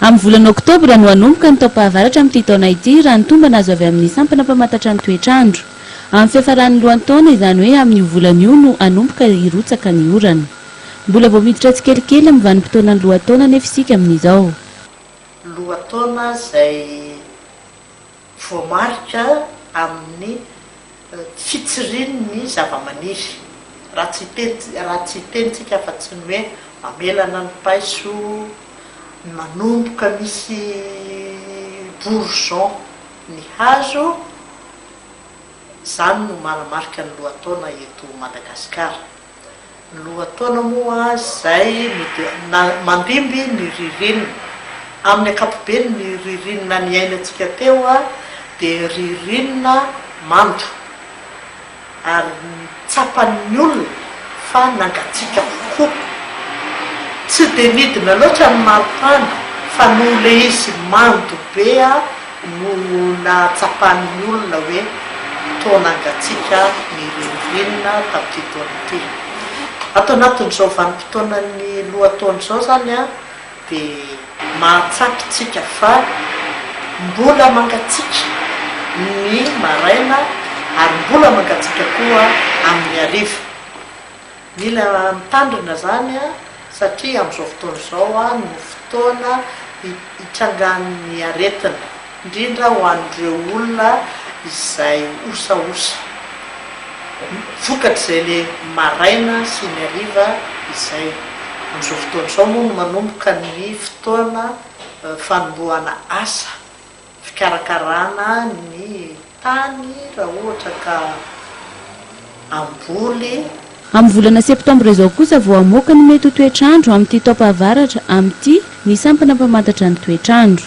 Amin'ny volana oktobra no hanomboka ny taom-pahavaratra amin'ity taona ity, raha ny tombana azo avy amin'ny sampana mpamantatra ny toetr'andro. Amin'ny fiafaran'ny lohantaona, izany hoe amin'io volana io no hanomboka hirotsaka ny orana. Mbola vao miditra tsikelikely amin'ny vanim-potoanan'ny lohataona anefa isika amin'izao. Lohataona izay. Voamarika amin'ny fitsiriany ny zavamaniry. Raha tsy hiteny raha tsy hiteny tsika afa-tsy ny hoe mamelana ny paiso, manomboka misy bourgeon ny hazo, izany no manamarika ny lohataona eto Madagasikara. Lohataona moa izay no dia mandimby ny ririnina. Amin'ny ankapobeny ny ririnina niainantsika teo dia ririnina mando ary tsapan'ny olona fa nangatsiaka avokoa. Tsy dia nidina loatra ny maripana fa noho ilay izy mando be. no nahatsapan'ny olona hoe toa nangatsiaka ny ririnina tamin'ity taona ity. Ato anatin'izao vanim-potoanan'ny lohataona izao izany dia mahatsapa isika fa mbola mangatsiaka ny maraina ary mbola mangatsiaka koa amin'ny hariva. Mila mitandrina izany satria amin'izao fotoana izao no fotoana itrangan'ny aretina, indrindra ho an'ireo olona izay osaosa, vokatr'izay le maraina sy ny hariva izay. Amin'izao fotoana izao moa no manomboka ny fotoana fanombohana asa. fikarakarana ny tany raha ohatra ka hamboly. Amin'ny volana septambra izao kosa vao hamoaka ny mety ho toetr'andro amin'ity taompahavaratra amin'ity ny sampana mpamantatra ny toetr'andro.